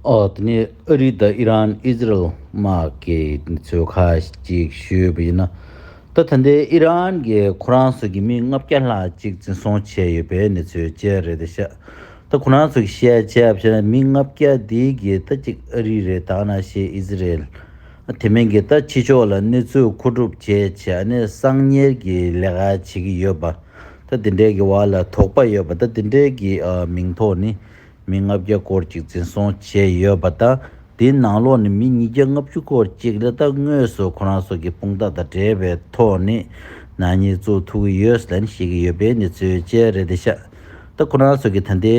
འོག་ནས་ཨི་རིག་དང་ཨི་རན་ཨིས་རལ་དམག་གི་ཚོས་ཁ་ཅིག་ཞུས་པ་ཡིན་ན། ད་ཐ་འདི་ཨི་རན་གྱི་ཁོ་རང་ཚོ་གི་མི་ལྔ་བརྒྱ་ལྷག་ཅིག་འཛིན་བཟུང་བྱས་ཡོད་པའི་གནས་ཚུལ་བཅས་རེད་དེ་ཤ་ད་ཁོ་རང་ཚོ་གི་བཤད་བྱས་བྱས་ན་མི་ལྔ་བརྒྱ་འདི་གི་ད་ཅིག་ཨི་རིག་རེད་དང་ན་ཤེས་ཨིས་རལ་དེ་མིན་གི་ད་ཕྱི་ཕྱོགས་ལ་གནས་ཚུལ་མཁོ་སྒྲུབ་བྱས་བྱས་ཨ་ནི་གསང་ཉེར་གི་ལས་ཀ་བྱེད་ཀྱི་ཡོད་པ་ད་དེ་འདྲའི་གི་བར་ལ་དོགས་པ་ཡོད་པ་ད་དེ་འདྲའི་གི་མིང་ཐོག་ནི། མི་ལྔ་བརྒྱ་སྐོར་ཅིག་འཛིན་བཟུང་བྱས་ཡོད་པ་དང་དེའི་ནང་ལོགས་ནས་མི་ཉིས་བརྒྱ་ལྔ་བཅུ་སྐོར་ཅིག་ལས་ད་དངོས་སུ་ཁོ་རང་སོགས་ཀྱི་དཔུང་རྟགས་དང་འབྲེལ་བའི་ཐོག་ནས་ནག་ཉེས་བཙུགས་ཐུབ་ཀྱི་ཡོད་ཟེར་ནས་བཤད་ཀྱི་ཡོད་པའི་གནས་ཚུལ་བཅས་རེད་དེ། ཤ་སྟག་ཁོ་རང་སོགས་ཀྱིས་ད་ལྟའི་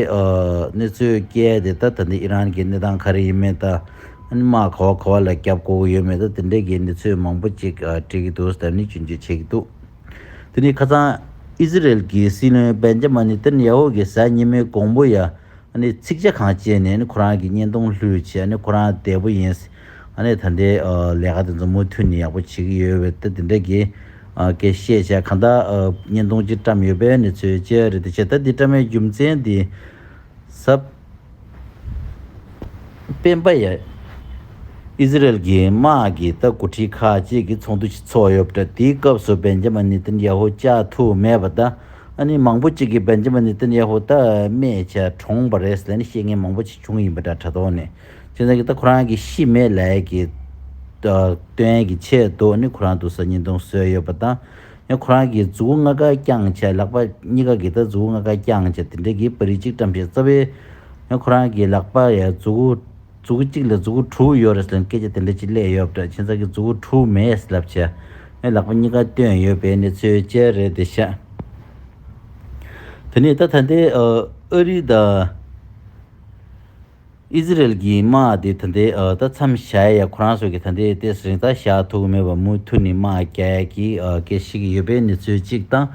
གནས་ཚུལ་བསྐྱལ་ཏེ་ད་ད་ལྟའི་ཨི་རན་གྱི་གནས་སྟངས་ག་རེ་ཡིན་མིན་དང་དམག་ག་བ་ག་བ་ལ་བརྒྱབ་དགོས་ཀྱི་ཡོད་མེད་དང་དེ་འབྲེལ་གྱི་གནས་ཚུལ་མང་པོ་ཅིག་དྲིས་ཀྱི་འདུག་ཟེར་ནས་སྐྱོན་བརྗོད་བྱས་ཀྱི་འདུག། དེ་ནས་ཁ་སང་ཨི་ཟི་རལ་གྱི་སྲིད་བློན་བན་ཇ་མ་ནི་ཏན་ཡ་ཧོ་གྱི་གཟའ་ཉི་མའི་གོང་བུ་ཡང་ཚིག་ཆ་གང་བཅད་ནས་ཁོ་རང་གི་བརྙན་ཐུང་ལྷོད་ཆེ་ཁོ་རང་བདེ་པོ་ཡིན། ད་ལྟའི་ལས་ཀ་དེ་ཚོ་མུ་མཐུད་ནས་ཡག་པོ་བྱེད་ཀྱི་ཡོད་བས་ད་དེ་འདྲ་གི་སྐད་བཤད་བྱས་གང་ལྟར་བརྙན་ཐུང་གཅིག་བཀྲམས་ཡོད་པས་ནི་ཚོས་བཅད་རེད་དེ་བྱས་ད་འདི་བཀྲམ་མའི་རྒྱུ་མཚན་འདི་ཟབ། སྤེན་པ་ཡ། ཨི་ཟི་རལ་གྱི་དམག་གི་ལྟ་སྐུལ་ཁྲི་ཁག་གཅིག་གི་ཚོགས་འདུ་ཞིག་ཚོགས་ཡོད་པ་འདྲ་དེའི་སྐབས་སུ་བན་ཇེ་མ་ནི་ཏན་ཡ་ཧོ་བཅའ་ཐུབ་མེད་པ་དང་ཨ་ནི་མང་པོ་ཅིག་གིས་བན་ཇེ་མ་ནི་ཏན་ཡ་ཧོ་རྟ་རྨེ་བྱ་གྲོངས་པ་རེད་ཟེར་ནས་བཤད་མཁན་མང་པོ་ཅིག་བྱུང་ཡིན་པ་འདྲ་དྲ་ཐོག་ནས་ཅི་འདྲ་གི་ད་ཁོ་རང་གི་ཤི་མེད་ལས་ཀྱི་དོན་གྱི་ཆེད་དུ་ནི་ཁོ་རང་དུ་ས་ཉིས་སྟོང་བཟོས་ཡོད་པ་དང། ཡང་ཁོ་རང་གིས་རྫུ་བོ་ལྔ་ཀ་བརྐྱངས་བྱས་ལག་པ་གཉིས་ཀ་གིས་ད་རྫུ་བོ་ལྔ་ཀ་བརྐྱངས་བྱས་དེ་འདྲ་གིས་པར་རིས་གཅིག་བཀྲམ་བྱས་རྩ་བའི། ཡང་ཁོ་རང་གིས་ལག་པ་ཡ་རྫུ་བོ་རྫུ་བོ་གཅིག་ལ་རྫུ་བོ་དྲུག་ཡོད་རེད་ཟེར་ལ་སྐད་ཆ་དེ་འདྲ་ཅིག་གླེགས་ཡོད་པ་འདྲ་ཁྱེད་ཚང་གིས་རྫུ་བོ་དྲུག་མེད་ལབ་བྱས། ཡང་ལག་པ་གཉིས་ཀ་བཏོན་ཡོད་པའི་གནས་ཚུལ་བཅས་རེད་དེ་བཤད། དེ་ནས་ད་ད་ལྟའི་ཨ་རི་དང། ཨི་ཟི་རེལ་གྱིས་དམག་སྡེ་དེ་འདི་ད་མཚམས་བཞག་ཡ་ཁོ་རང་ཚོ་གི་ད་འདི་ལྟའི་ཟིང་ཐག་བཞག་ཐུག་མེད་པ་མུ་མཐུད་ནས་དམག་རྒྱ་ཡ་གྱི་སྐད་ཤིག་ཡོད་པའི་གནས་ཚུལ་གཅིག་དང།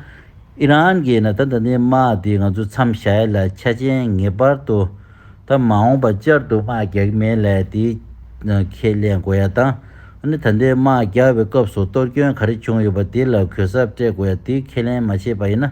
ཨི་རན་གྱིས་ན་ད་ད་འདི་དམག་སྡེ་ང་ཚོ་མཚམས་བཞག་ཡ་ལ་ཆ་ཅན་ངེས་པར་དུ་ད་མ་འོངས་པ་བསྐྱར་དུ་དམག་རྒྱག་གི་མེད་ལ་དེ་ཁས་ལེན་དགོས་ཡ་དང། ད་འདི་དམག་རྒྱག་པའི་སྐབས་སུ་གཏོར་སྐྱོན་ག་རེ་བྱུང་ཡོད་པ་དེ་ལ་གུས་ཞབས་སྤྲད་དགོས་ཡ་དེ་ཁས་ལེན་མ་བྱས་པ་ཡིན་ན།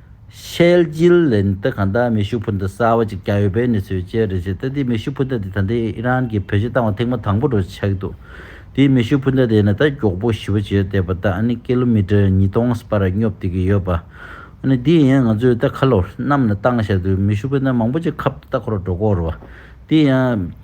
ཤེལ་རྒྱུའི་ལན་གཏེར་གང་དག་མེ་ཤུགས་འཕུར་མདའ་གསར་བ་གཅིག་རྒྱག་ཡོད་པའི་གནས་ཚུལ་བཅས་རེད་བྱས་ཏེ་དེའི་མེ་ཤུགས་འཕུར་མདའ་དེ་ད་ལྟའི་ཨི་རན་གྱིས་བེད་སྤྱོད་བཏང་བ་ཐེངས་མ་དང་པོ་རུ་ཆགས་འདུག་དེའི་མེ་ཤུགས་འཕུར་མདའ་དེ་ནི་ད་མགྱོགས་པོ་ཞི་བ་བྱས་ཡོད་བལྟས་པ་ད་ཨ་ནི་ཀི་ལོ་མི་ཀྲེར་ཉིས་སྟོང་ཨ་བར་སྙོབ་བསྡད་ཀྱི་ཡོད་པ་ཨ་ནི་དེ་ཡིན་ང་ཚོས་ད་ཁ་ལོ་གནམ་ལ་བཏང་བཞག་དུས་མེ་ཤུགས་འཕུར་མདའ་མང་པོ་ཅིག་ཁ་བརྡ་ཁོར་འགྲོ་སྐོར་རོ་དེ་ཡང།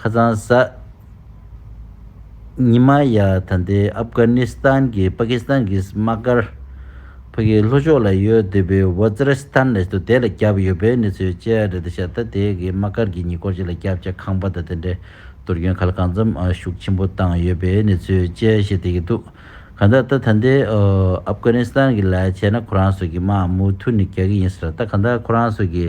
ཁ་ཚང་ས། ཉི་མ་ཡ། ད་ལྟའི་ཨབ་དཀར་ནི་སི་ཐན་གྱི་པ་ཀི་སི་ཐན་གྱི་སི་མ་ཀར། བྷི་གི་ལྷོ་ཕྱོགས་ལ་ཡོད་འདོད་པའི་ཝོད་ཛི་ར་སི་ཐན་ལས་དོ་དལ་ལ་བརྒྱབ་ཡོད་པའི་གནས་ཚུལ་བཅས་རེད་ད་ཆ་ད་ལྟའི་གི་མ་ཀར་གྱི་ཉེ་སྐོར་བཅས་ལ་བརྒྱབ་ཆ་ཁང་པ་དང་དེ་འདྲའི་དུར་རྒྱུན་ག་ལ་གང་འཛོམ་ཤུགས་ཆེན་པོ་བཏང་ཡོད་པའི་གནས་ཚུལ་བཅས་བཤད་བསྡད་ཀྱི་འདུག་གང་ལྟར་ད་ད་ལྟའི་ཨབ་དཀར་ནི་སི་ཐན་གྱི་ལས་བྱེད་ན་ཁོ་རང་ཚོ་གི་མ་མུ་མཐུད་ནས་རྒྱག་གི་ཡིན་ཟེར་ད་གང་ལྟར་ཁོ་རང་ཚོ་གི།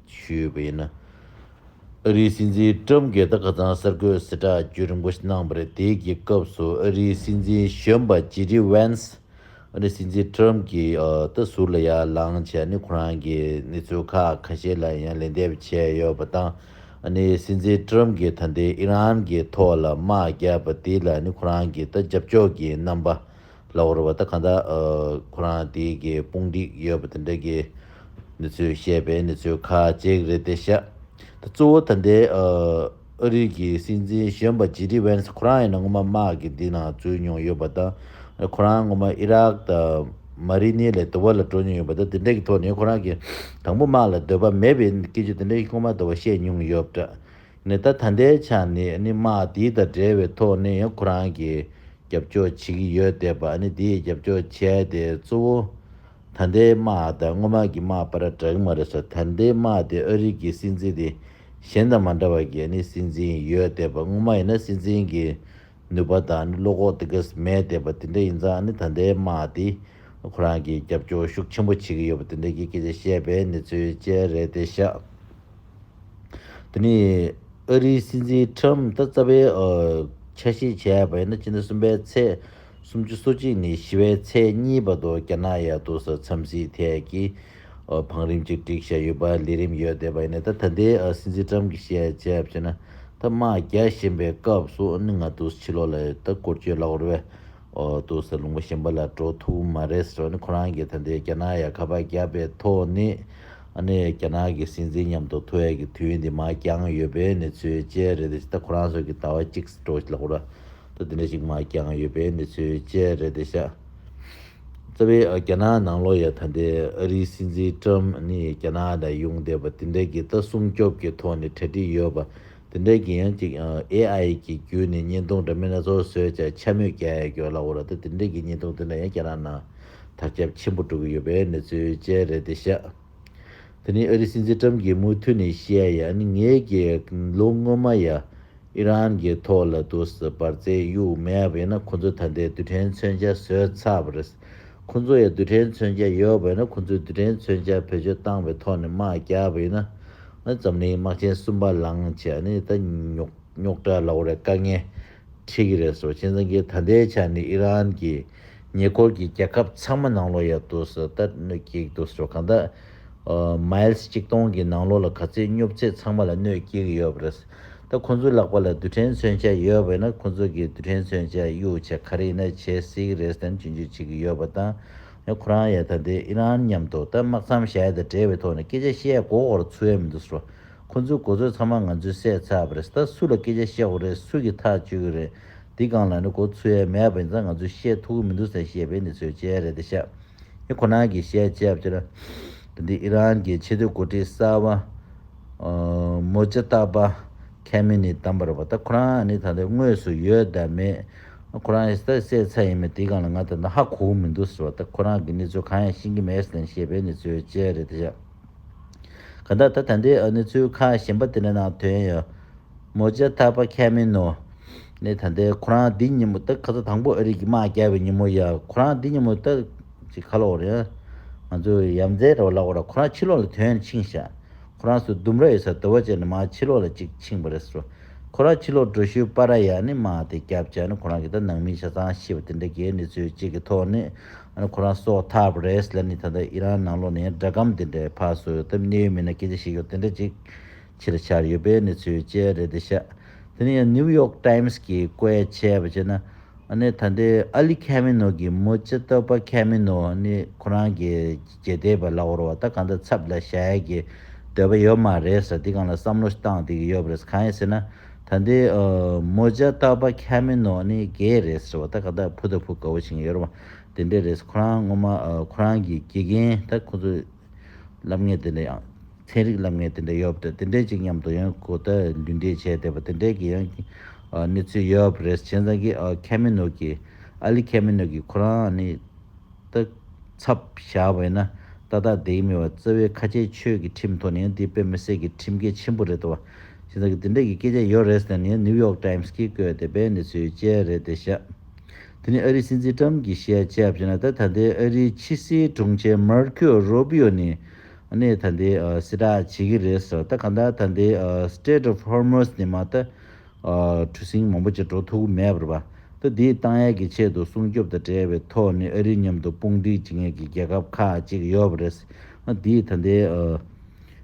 ཞུས་ཡོད་པ་ཡིན། ཨ་རིའི་སྲིད་འཛིན་ཀྲུམ་སྒེར་དང་ཁ་ཚང་གསར་འགོད་སྲིད་གྲྭ་བརྒྱུད་རིན་པོ་ཆེ་གནང་བ་རེད་དེ་གི་སྐབས་སུ་ཨ་རིའི་སྲིད་འཛིན་གཞོན་པ་ཇེ་ལྡི་བྷན་སི་ཨ་རིའི་སྲིད་འཛིན་ཀྲུམ་གི་ཏུ་ཟུར་ལ་ཡར་ལངས་བྱས་ནས་ཁོ་རང་གི་གནས་ཚུལ་ཁག་ཁ་ཤས་ལ་ཡང་ལན་འདེབས་བྱས་ཡོད་པ་དང་ཨ་ནི་སྲིད་འཛིན་ཀྲུམ་གི་ད་ལྟའི་ཨི་རན་གི་ཐོག་ལ་དམག་རྒྱག་པ་དེ་ལ་ནི་ཁོ་རང་གི་ཏུ་རྒྱབ་སྐྱོར་གི་རྣམ་པ་ལ་བོར་བ་ད་ག་འདྲ། ཁོ་རང་དེའི་གི་དཔུང་སྒྲིག་ཡོད་པ་དེ་འདྲ་གི་ནི་ཚོས་བཤད་པའི་ནི་ཚོས་ཁ་ཅིག་རེད་དེ་ཤ། ད་གཙོ་བོ་ད་འདའི་ཨ་རིག་གི་སྲིད་འཛིན་གཞོན་པ་ཇི་ཏི་བན་སི་ཁོ་རང་ཡིན་ན་ངོ་མ་དམག་གི་འདི་ནང་འཛུལ་མྱོང་ཡོད་པ་ད། ཁོ་རང་ངོ་མ་ཨི་རག་ད་མ་རི་ནི་ལས་དོ་བ་ལ་འགྲོ་མྱོང་ཡོད་པ་ད་དེ་འདྲ་གི་ཐོག་ནི་ཁོ་རང་གི་དང་པོ་དམག་ལ་འདོད་པ་མེད་པའི་སྐད་ཆ་དེ་འདྲ་ཁོ་མ་ད་བ་བཤད་མྱོང་ཡོད་པ་ད། ནས་ད་ད་ལྟའི་ཆ་ནས་ནི་དམག་དེ་དང་འབྲེལ་བའི་ཐོག་ནས་ཡང་ཁོ་རང་གིས་རྒྱབ་སྐྱོར་བྱེད་ཀྱི་ཡོད་བསྡད་པ་ནི་དེས་རྒྱབ་སྐྱོར་བྱས་ཏེ་གཙོ་བོ་ད་ལྟའི་དམག་དང་སྔོན་མ་གི་དམག་པ་ར་འདྲ་གི་མ་རེད་ས་ད་ལྟའི་དམག་དེ་ཨ་རིག་གི་སྲིད་འཛིན་དེ་གཞན་དང་མ་འདྲ་བ་གས་ནི་སྲིད་འཛིན་ཡོད་བསྡད་པ་སྔོན་མ་ཡིན་ན་སྲིད་འཛིན་གི་ནུས་པ་དང་ནི་བློ་ཁོག་དེ་གས་མས་བསྡད་པ་དེ་འདྲ་ཡིན་ཙང་ནི་ད་ལྟའི་དམག་དེ་ཁོ་རང་གིས་རྒྱབ་སྐྱོར་ཤུགས་ཆེན་པོ་བྱེད་ཀྱི་ཡོད་པ་དེ་འདྲ་གི་སྐད་ཆ་བཤད་པའི་གནས་ཚུལ་བཅས་རེད་དེ་ཤག་དེ་ནི་ཨ་རིའི་སྲིད་འཛིན Trump ད་རྩ་བའི་ཆ་ཤས་བྱས་པ་ཡིན་ན་སྤྱི་ཟླ་གསུམ་པའི་ཚེས་སུམ་ཅུ་སོ་གཅིག་ནི་ཞི་བའི་ཚེས་གཉིས་པ་དུ་རྒྱ་ནག་ཡ་དུག་ས་མཚམས་སྲིད་ཐད་ཀྱི་བང་རིམ་གཅིག་སྒྲིག་བྱས་ཡོད་པ་ལས་རིམ་ཡོད་བསྡད་པ་ཡིན། ད་ད་ལྟའི་སྲིད་འཛིན་ཀྲམ་གྱི་བཤད་བྱ་ཕྱེ་ན། ད་དམག་རྒྱག་བཞིན་པའི་སྐབས་སུ་ནི་ང་དུས་ཕྱི་ལོག་ལ་ཡོད་ད་སྐོར་སྐྱོད་ལག་བར་བས། དུས་ལ་ལུང་པ་གཞན་པ་ལ་འགྲོ་ཐུབ་མ་རེད་ཟེར་བ་ནི་ཁོ་རང་གིས་ད་ལྟའི་རྒྱ་ནག་ཡ་ག་པ་བརྒྱབ་པའི་ཐོག་ནས། ནི་རྒྱ་ནག་གི་སྲིད་འཛིན་མཉམ་དུ་ཐུ་ཨེ་གི་དུས་འདི་དམག་རྒྱང་ཡོད་པའི་ནི་ཚོད་བཅད་རེད་དེ་ད་ཁོ་རང་ཚོ་གི་ད་བ་གཅིག་འགྲོ་ལག་བར། ད་འདི་འདྲ་ཞིག་དམག་རྒྱང་ཡོད་པའི་ནི་ཚོད་བཅད་རེད་དེ་ཤག། རྩ་བའི་རྒྱ་ནག་ནང་ལོ་ཡ་ད་ལྟའི་ཨ་རིའི་སྲིད་འཛིན་ཀྲམ་ནི་རྒྱ་ནག་ལ་ཡོང་བསྡད་པ་དེ་འདྲ་གྱི་ལྟ་སྲུང་སྐྱོབ་ཀྱི་ཐོག་ནས་གྲ་སྒྲིག་ཡོད་པ་དེ་འདྲ་གྱི་ཡང་ཅིག AI གྱི་བརྒྱུད་ནས་བརྙན་ཐུང་འདྲ་མིན་སྣ་ཚོགས་བཟོས་བྱས་འཆར་མོད་རྒྱ་ཡ་གྱོ་ལ་འོ་ར་ད་དེ་འདྲ་གྱི་བརྙན་ཐུང་དེ་འདྲ་ཡང་རྒྱ་ནག་ནང་དར་ཁྱབ་ཆེན་པོ་འགྲོ་གི་ཡོད་པའི་གནས་ཚུལ་བཅས་རེད་དེ་ཤ་དེ་ནི་ཨ་རིའི་སྲིད་འཛིན་ཀྲམ་གྱིས་མུ་མཐུད་ནས་བཤད་ཡང་ངེད་ཀྱིས་ལོ་སྔོན་མ་ཡ་ཨི་རན་གྱི་ཐོག་ལ་དུ་སི་འབར་རྫས་དབྱུག་མེད་བས་ན་ཁོ་ཚོས་ད་ལྟའི་རྡུལ་ཕྲན་མཚོན་ཆ་བཟོས་ཚར་བ་རེད། ཁོ་ཚོ་ཡ་རྡུལ་ཕྲན་མཚོན་ཆ་ཡོད་བས་ན་ཁོ་ཚོས་རྡུལ་ཕྲན་མཚོན་ཆ་བེད་སྤྱོད་བཏང་བའི་ཐོག་ནས་དམག་རྒྱག་པ་ཡིན་ན། འཛམ་གླིང་དམག་ཆེན་གསུམ་པ་ལངས་ཆ་ནི་ད་ཉོག་ཉོག་འདྲ་ལ་འོ་རེ་དཀའ་ངལ་འཕྲད་ཀྱི་རེད་ཟེར་བ་བཞིན་ཟེར་གྱི་ད་ལྟའི་ཆ་ནས་ཨི་རན་གྱིས་ཉེ་འཁོར་གྱི་རྒྱལ་ཁབ་ཚང་མ་ནང་ལོགས་ཡར་དུས་སུ་ལྟར་གནོད་སྐྱེལ་དུས་སུ་གང་དག Miles གཅིག་སྟོང་གི་ནང་ལོགས་ལ་ག་ཚོད་སྙོབ་ཚད་ཚང་མ་ལ་གནོད་སྐྱེལ་གྱི་ཡོད་པ་རེད། ད་ཁོང་ཚོའི་ལག་པ་ལ་རྡུལ་ཕྲན་མཚོན་ཆ་ཡོད་པ་ཡིན་ན་ཁོང་ཚོ་གི་རྡུལ་ཕྲན་མཚོན་ཆ་གཡུག་ཆ་ག་རེ་ཡིན་ན་བྱེད་སྲིད་ཀྱི་རེད་བསམ་གྱིན་འཇུག་བྱེད་ཀྱི་ཡོད་པ་དང་ཡང་ཁོ་རང་ཡང་ད་ལྟའི་ཨི་རན་མཉམ་དུ་ད་དམག་མཚམས་བཞག་ཡོད་ད་འབྲེལ་བའི་ཐོག་ནས་སྐད་ཆ་བཤད་ཡ་གོ་གོ་ར་ཚུ་ཡ་མི་འདུག་སོ། ཁོང་ཚོའི་གོ་ཚོད་ཚང་མ་ང་ཚོས་བསད་ཚར་བ་རེད་ད་སུ་ལ་སྐད་ཆ་བཤད་གོ་རེད་སུ་གི་ཐག་གཅོད་གི་རེད། འདི་སྒང་ལ་ནི་གོ་ཚུལ་ཡ་མེད་པ་ཡིན་ཙང་ང་ཚོས་བཤད་ཐུག་གི་མི་འདུག་ཟེར་ཞེས་པའི་འདི་ཚོའི་དཔྱད་རེ་དེ་བཤད་ཡིན་ཁོ་ན་གི་བཤད་དཔྱད་བྱས་ན་དེ་འདི་ཨི་རན་གྱི་ཆེས་མཐོའི་འགོ་ཁྲིད་གསར་བ་མོ་ཇི་ཏཱ་བྷ་ཁེ་མི་ནི་དམ་པར་བ་ད་ཁོ་རང་ནི་ད་ལྟ་དངོས་སུ་ཡོད་དམ་མེད་ཁོ་རང་ད་བསད་ཚར་ཡིན་མོད་འདི་སྒང་ལ་ང་ད་ནི་ཧ་གོ་མི་འདུག་ཟེར་བ་ད་ཁོ་རང་གི་འདི་ཚོ་གང་ཡང་ཤེས་ཀྱི་མེད་ཟེར་ན་ཞེས་པའི་འདི་ཚོའི་དཔྱད་རེ་དེ་བཤད་ག་ད་ད་ད་འདི་འདི་ཚོའི་ཁ་ཞེན་པ་དེ་ནི་ནང་དོན་ཡོད་མོ་ཅི་ཐར་པ་ཁས་མིན་ནོ། ནས་ད་ལྟའི་ཁོ་རང་འདི་ཉིན་མོ་ཏི་ཁ་ཚ་དང་པོ་ཨ་རིག་གི་མ་བསྐྱལ་བའི་ཉིན་མོ་ཡ་ཁོ་རང་འདི་ཉིན་མོ་ཏི་ཅི་ཁ་ལོག་རེད། ང་ཚོ་ཡབ་མཛེས་ར་བ་ལགས་བ་ར་ཁོ་རང་ཕྱི་ལོག་ལ་དོན་འཕྱིང་ཤག་ཁོ་རང་སུ་ལྡུམ་ར་ཡོད་སར་དུ་བ་ཅེར་ནས་མ་ཕྱི་ལོག་ལ་ཅིག་འཕྱིང་བ་རེད་སོ་ཁོ་རང་ཕྱི་ལོག་འགྲོ་ཤུལ་པ་ར་ཡ་ནི་མ་དེ་སྐྱབས་ཅག་ནི་ཁོ་རང་གི་ད་ནང་མི་ཆ་ཚང་ཤི་བ་དེ་འདྲ་གི་ནི་ཚོའི་ཅིག་གི་ཐོག་ནི་ཨ་ནི་ཁོ་རང་སོག་ཐར་པ་རེད་ལ་ནི་ད་ད་ཨི་རང་ནང་ལོག་ནས་དགྲ་གམ་དེ་འདྲ་ཕ་སོ་ཡོད་སྟབས་གནས་ཡུལ་མི་ན་སྐད་ཆ་བཤད་ཤོག་དེ་འདྲ་ཅིག། ཕྱིར་འཕྱར་ཡོད་པའི་གནས་ཚུལ་བཅས་རེད་འདི་ཤ། དེ་ནས་ཡང New York Times གྱིས་བཀོད་བྱས་པ་བྱས་ན། ཨ་ནི་ད་ལྟའི་ཨ་ལི་ཁེ་མེ་ནོ་གྱི་མོ་ཅེ་ཏོ་པ་ཁེ་མེ་ནོ་ནི་ཁོ་རང་གི་རྒྱལ་གཏེར་བ་ལ་བོར་བ་ད་ག་འདྲ་ཚབ་ལ་བཞག་ཡས་ཀྱི་འདོད་པ་ཡོད་མ་རེད་ས་འདི་གང་ལ་བསམ་བློ་བཏང་དེ་གི་ཡོད་པ་རེད་གང་ཡིན་ཟེར་ན། ད་ལྟའི་མོ་ཅེ་ཏོ་པ་ཁེ་མེ་ནོ་ནི་རྒྱལ་རེད་ཟེར་བ་ད་ག་འདྲ་ཕུ་ད་ཕུ་དགའ་བོ་བྱེད་ཀྱི་ཡོད་རེད་བ་དེ་འདྲས་རེད་ཁོ་རང་ངོ་མ་ཁོ་རང་གི་དགེ་རྒན་ད་ཁོ་ཚོ་ལབ་ངེས་དེ་འདྲ་ཡང། ཚན་རིག་ལབ་ངེས་དེ་འདྲ་ཡོད་པ་དེ་དེ་འདྲས་ཅིག་མཉམ་དུ་ཡང་གོ་བརྡ་འདུས་འདྲེས་བྱས་བསྡད་པ་དེ་འདྲས་ཀྱི་ཡང་གནས་ཚུལ་ཡོད་པ་རེད་བྱས་ཙང་གི་ཁེ་མི་ནུག་གི། ཨ་ལི་ཁེ་མི་ནུག་གི་ཁོ་རང་ནི་སྟག་ཚབ་བཞག་པ་ཡིན་ན་ཏག་ཏག་བསྡད་ཀྱི་མེད་པ་རྩ་བའི་ཁ་ཆེའི་ཆོས་ཀྱི་ཁྲིམས་ཐོག་ནས་ཡང་འདི་དཔེ་མི་སྲིད་ཀྱི་ཁྲིམས་འགལ་ཆེན་པོ་རེད་བ། བྱས་ཙང་གི་དེ་འདྲས་ཀྱི་སྐད་ཆ་ཡོད་རེད་ཟེར་ནས་ནིའུ་ཡོག་ཏཱིམས་ཀྱིས་བཀོད་བསྡད་པའི་གནས་ཚུལ་བཅས་རེད་བསྡད་ཤག། དེ་ནི་ཨ་རིའི་སྲིད་འཛིན་ཀྲམ་གྱིས་བཤད་ཆ་བཞིན་ལ་ད་ལྟའི་ཨ་རིའི་ཕྱི་སྲིད་དྲུང་ཆེ་མར་ཁེའོ་རོ་བྷི་ཡོ་ནི་གནས་ད་ལྟའི་སྲིད་བསྒྲགས་བྱེད་ཀྱི་རེད་ཟེར་བ་ལྟར་གང་ལྟར་ད་ལྟའི Strait of Hormuz ནི་མ་ལྟ་གྲུ་གཟིངས་མང་པོ་ཅིག་འགྲོ་ཐུབ་ཀྱི་མེད་པར་བ་ད་དེའི་བཏང་ཡལ་གྱི་ཆེད་དུ་སྲུང་སྐྱོབ་དང་འབྲེལ་བའི་ཐོག་ནས་ཨ་རིའི་མཉམ་དུ་དཔུང་སྒྲིག་བྱེད་མཁན་གྱི་རྒྱལ་ཁབ་ཁག་ཅིག་ཡོད་པ་རེད། དེས་ད་ལྟའི།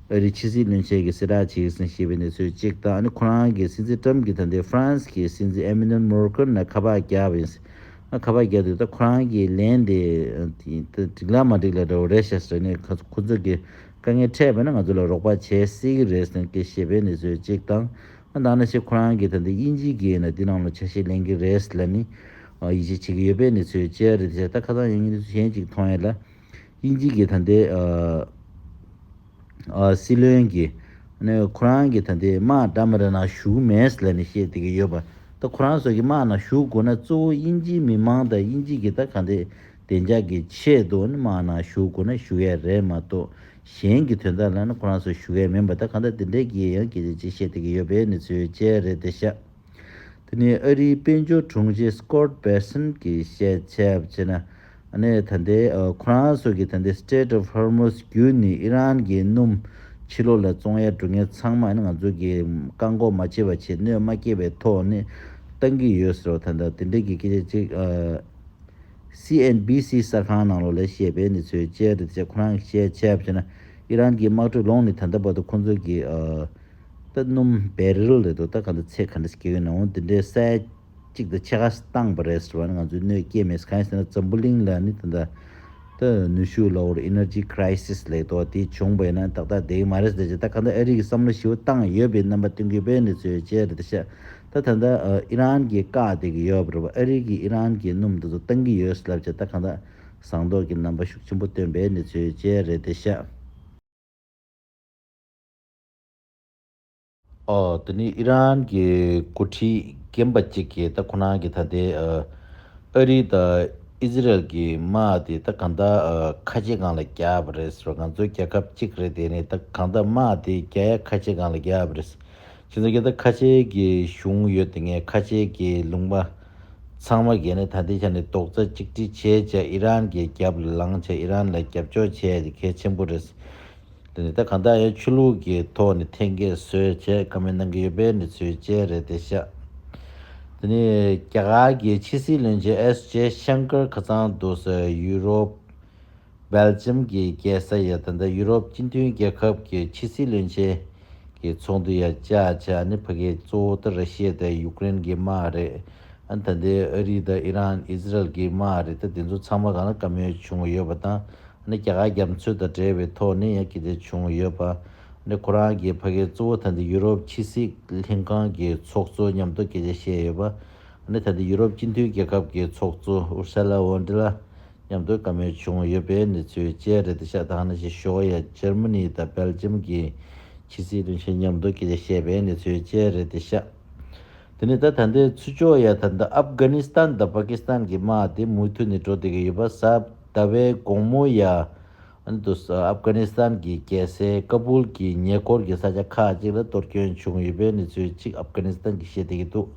ཨ་རིའི་ཕྱི་སྲིད་བློན་ཆེན་གྱི་གསལ་བསྒྲགས་བྱས་ཟིན་ཞེས་པའི་གནས་ཚུལ་གཅིག་དང་ཨ་ནི་ཁོ་རང་གི་སྲིད་འཛིན་ཀྲམ་གྱི་དམ་དེ་ཧྥ་རན་སི་གི་སྲིད་འཛིན་ཨེ་མེ་ནུལ་མོར་ཀེར་ནས་ཁ་པར་བརྒྱབ་ཡིན། ཁ་པར་བརྒྱབ་དུས་ད་ཁོ་རང་གི་ལན་དེ་འགྲིག་ལ་མ་འགྲིག་ལ་འདྲ་བོ་རེད་ཤག་ཟེར་ནས་ཁོ་ཚོ་གི་དཀའ་ངལ་འཕྲད་པས་ན་ང་ཚོ་ལ་རོགས་པ་བྱེད་སྲིད་ཀྱི་རེད་ཟེར་གི་ཞེས་པའི་གནས་ཚུལ་གཅིག་དང། ད་ནི་ཕྱིར་ཁོ་རང་གི་དམ་དེ་དབྱིན་ཇིའི་གི་ཡིན་ན་དེའི་ནང་ལ་ཆ་ཤས་ལེན་གི་རེད་ཟེར་ལ་ནི་ཡིད་ཆེས་བྱེད་ཀྱི་ཡོད་པའི་གནས་ཚུལ་བཅས་རེད་དེ་ཆ་ད་ཁ་སང་ཡང་གནས་ཚུལ་གཞན་གཅིག་མཐོང་ཡོད་ལ། དབྱིན་ཇིའི་གིས་ད་འདི། སྲིད་བློན་གྱི། ནི་ཁོ་རང་གི་ད་འདི་དམག་གྲ་མི་རི་ན་ཞུགས་མེད་ལ་ནི་བཤད་དེ་གི་ཡོད་པ་ད་ཁོ་རང་སོ་གི་དམག་ན་ཞུགས་དགོས་ན་གཙོ་བོ་དབྱིན་ཇིའི་མི་མང་དང་དབྱིན་ཇི་གི་ད་ག་འདི་བདེ་འཇགས་གི་ཆེད་དུ་ནི་དམག་ན་ཞུགས་དགོས་ན་ཞུགས་ཡས་རེད་མ་གཏོགས་གཞན་གི་དོན་དག་ལ་ནི་ཁོ་རང་སོ་ཞུགས་ཡས་མིན་པ་ད་ག་འདི་འདི་འདྲས་གི་ཡང་གི་ཅེས་བཤད་དེ་གི་ཡོད་པའི་ནི་ཚུལ་བཅས་རེད་དེ་ཤ། དེ་ནི་ཨ་རིའི་དཔལ་འབྱོར་དྲུང་ཆེ Scott Bessent གྱིས་བཤད་ཆབ་ཆེ་ན་ནི་ད་ལྟའི་ཁོ་རང་སོགས་ཀྱིས་ད་ལྟའི Strait of Hormuz བརྒྱུད་ནས་ཨི་རན་གྱི་སྣུམ་ཕྱི་ལོགས་ལ་བཙོང་ཡ་འགྲོ་མཁན་ཚང་མ་ནི་ང་ཚོ་གིས་བཀག་འགོག་མ་བྱས་པར་ཆེད་གནོད་མ་བསྐྱེད་པའི་ཐོག་ནས་བཏང་གི་ཡོད་ཟེར་བ་ད་ལྟ་དེ་འདྲ་གི་སྐད་ཆ་གཅིག CNBC གསར་ཁང་ནང་ལོགས་ལ་བཤད་པའི་ནི་ཚོའི་དཔྱད་རེད་དེ་ཆ་ཁོ་རང་གིས་བཤད་ཆབ་ཆེ་ན་ཨི་རན་གྱི་དམག་གྲུ་ལོངས་ནས་ད་ལྟ་བར་དུ་ཁོ་ཚོ་གིས་རྟ་སྣུམ་བེ་རིལ་རེད་འདུག་ད་ག་འདི་ཚེ་ག་འདྲ་ཞིག་སྐྱེལ་གི་ན་འོང་འདི་འདྲའི་ས་ཡ་གཅིག་འདི་ཆེ་ཁ་སྟངས་པ་རེད་ཟེར་བ་ནི་ང་ཚོའི་གནོད་སྐྱེལ་མེད་ཟེར་གང་ཡིན་ཟེར་ན་འཛམ་བུ་གླིང་ལ་ནི་དེ་འདྲ་ད་ནུས་ཤུགས་ལ་འོར Energy Crisis ལེགས་དོགས་དེ་བྱུང་བས་ན་ཏག་ཏག་བསྡད་ཀྱི་མ་རེད་ཟེར་ཅིག་ད་ག་འདི་ཨ་རིག་གི་བསམ་བློ་ཞི་བོ་བཏང་ཡོད་པའི་རྣམ་པ་སྟོན་གི་བས་འདི་ཚོའི་རྗེས་རེད་ད་ཤ་ད་ད་འདྲ་ཨི་རན་གྱི་བཀག་སྡད་ཀྱི་ཡོད་པ་རེད་བ་ཨ་རིག་གི་ཨི་རན་གྱི་སྣུམ་འདི་ཚོ་བཏང་གི་ཡོད་ཟེར་ལབ་ཅིག་ད་ག་འདྲ་ཟངས་མདོག་གི་རྣམ་པ་ཤུགས་ཆེན་པོ་སྟོན་པས་འདི་ཚོའི་རྗེས་རེད་ད་ཤ། འདི་ནི་ཨི་རན་གྱི་འགོ་ཁྲིད་རྒན་པ་གཅིག་གིས་ད་ཁོ་རང་གིས་ད་ལྟའི་ཨ་རི་དང་ཨི་ཟི་རལ་གྱི་དམག་དེ་ད་གང་དག་ཁ་ལྕེ་སྒང་ལ་རྒྱག་པ་རེད་ཟེར་བ་ང་ཚོ་རྒྱལ་ཁབ་གཅིག་རེད་དེ་ནི་ད་གང་དག་དམག་དེ་རྒྱ་ཡའི་ཁ་ལྕེ་སྒང་ལ་རྒྱག་པ་རེད། ཁྱེད་ཚོ་རྒྱ་དག་ཁ་ལྕེ་གི་གཞུང་ཡོད་དེ་ངས་ཁ་ལྕེ་གི་ལུང་པ་ཚང་མ་རྒས་ནས་ད་ལྟའི་ཆ་ནས་རྡོག་རྩ་གཅིག་སྒྲིལ་བྱས་བྱས་ཨི་རན་གྱི་རྒྱབ་ལ་ལངས་བྱས་ཨི་རན་ལ་རྒྱབ་ཕྱོགས་བྱས་དེ་གལ་ཆེན་པོ་རེད། དེ་ནི་ད་གང་ལྟར་ཆོས་ལུགས་ཀྱི་ཐོག་ནས་ཐེངས་འགའི་བཟོས་བྱས་དཀའ་མོལ་གནང་གི་ཡོད་པའི་གནས་ཚུལ་བཅས་རེད་དེ་ཤ་དེ་ནི་རྒྱ་གར་གྱི་ཕྱི་སྲིད་བློན་ཆེན་ཨེས་ཇེ་ཤང་ཀར་ཁ་ཚང་དུ་སོགས་ཡུ་རོབ། Belgium། གྱི་རྒྱལ་ས་ཡང་ད་ལྟ་ཡུ་རོབ་སྤྱི་མཐུན་རྒྱལ་ཁབ་ཀྱི་ཕྱི་སྲིད་བློན་ཆེན་གྱི་ཚོགས་འདུ་ཡང་བཅའ་བྱ་ནི་ཕ་གི་གཙོ་བོ་ད་ར་ཤི་ཡ་དང་ཡུཀ་རེན་གྱི་དམག་རེད་ད་ལྟའི་ཨ་རི་དང་ཨི་རན་ཨི་ཟི་རལ་གྱི་དམག་རེད་ད་དེ་ཚོ་ཚང་མ་གང་ལ་དཀའ་མོལ་བྱུང་ཡོད་པ་དང་ནི་རྒྱ་གར་རྒྱ་མཚོས་དང་འབྲེལ་བའི་ཐོག་ནས་ཡང་སྐྱེ་འདི་བྱུང་ཡོད་པ། ནི་ཁོ་རང་གི་ཕ་གི་གཙོ་བོ་ད་ནི་ཡུ་རོབ་ཕྱི་སྲིད་ལྷན་ཁང་གི་ཚོགས་གཙོ་མཉམ་དུ་སྐད་ཆ་བཤད་ཡོད་པ། ནི་ད་ནི་ཡུ་རོབ་སྤྱི་མཐུན་རྒྱལ་ཁབ་ཀྱི་ཚོགས་གཙོ Ursula von der Leyen མཉམ་དུ་བཀའ་མོལ་བྱུང་ཡོད་པའི་གནས་ཚུལ་བཅས་རེད་དེ་ཤ་ཐང་ནི་ཞི་ཞོ་ཡ Germany དང Belgium གྱི་ཕྱི་སྲིད་བློན་ཆེན་མཉམ་དུ་སྐད་ཆ་བཤད་པའི་གནས་ཚུལ་བཅས་རེད་དེ་ཤ་དེ་ནི་ད་ད་ནི་ཚུ་ཅོ་ཡ་ད་ནི Afghanistan དང Pakistan གྱི་དམག་དེ་མུ་མཐུད་ནས་འགྲོ་བསྡད་ཀྱི་ཡོད་པ་ཟབ། ཟླ་བའི་དགོང་མོ་ཡ་ཨན་དུ་ཨབ་གྷ་ནི་སི་ཐན་གྱི་རྒྱལ་སའི་ཀ་བུལ་གྱི་ཉེ་འཁོར་གྱི་ས་ཆ་ཁག་ཅིག་ལ་གཏོར་སྐྱོན་བྱུང་ཡོད་པའི་གནས་ཚུལ་གཅིག་ཨབ་གྷ་ནི་སི་ཐན་གྱིས་བཤད་བསྡད་ཀྱི་འདུག་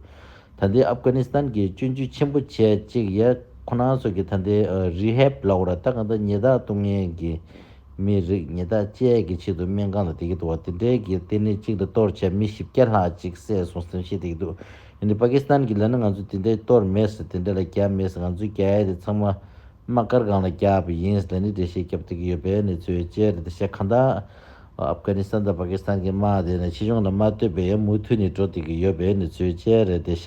ད་ལྟའི་ཨབ་གྷ་ནི་སི་ཐན་གྱི་སྤྱོད་འཇུས་ཆེན་པོ་བྱས་གཅིག་ཡ་ཁོ་ན་སོགས་ཀྱི་ད་ལྟའི་རི་ཧེབ་ལའོ་ར་ཐ་ག་ད་ཉི་དག་གཏོང་མཁན་གྱི་མི་རིགས་ཉི་དག་བཅས་ཀྱི་ཆེད་དུ་སྨན་ཁང་ལ་བསྡད་ཀྱི་འདུག་བ་དེ་འབྲེལ་གྱི་ལྟེ་གནས་གཅིག་ལ་གཏོར་བྱས་མི་བཞི་བརྒྱ་ལྷག་ཅིག་བསད་སོང་ཟེར་བཤད་བསྡད་ཀྱི་འདུག་ཡིན་དུས་པ་ཀི་སི་ཐན་གྱིས་ལན་ནི་ང་ཚོས་དེ་འདྲའི་གཏོར་མེད་ཟེར་དེ་འདྲ་ལ་རྒྱབ་མེད་ཟེར་ང་ཚོའི་རྒྱ་ཡལ་དེ་ཚང་མ་དམག་སྒར་སྒང་ལ་རྒྱབ་པ་ཡིན་ལན་ནི་འགྲེལ་བཤད་རྒྱབ་སྟེགས་ཡོད་པའི་གནས་ཚུལ་བཅས་རེད་དེ་ཤ་ག་འདའ། ཨབ་གྷ་ནི་སི་ཐན་དང་པ་ཀི་སི་ཐན་གྱི་དམག་དེ་ནི་ཕྱི་ཕྱོགས་ནས་མ་བསྟོད་པའི་ཡང་མུ་མཐུད་ནས་འགྲོ་བསྡད་ཀྱི་ཡོད་པའི་གནས་ཚུལ་བཅས་རེད་དེ་ཤ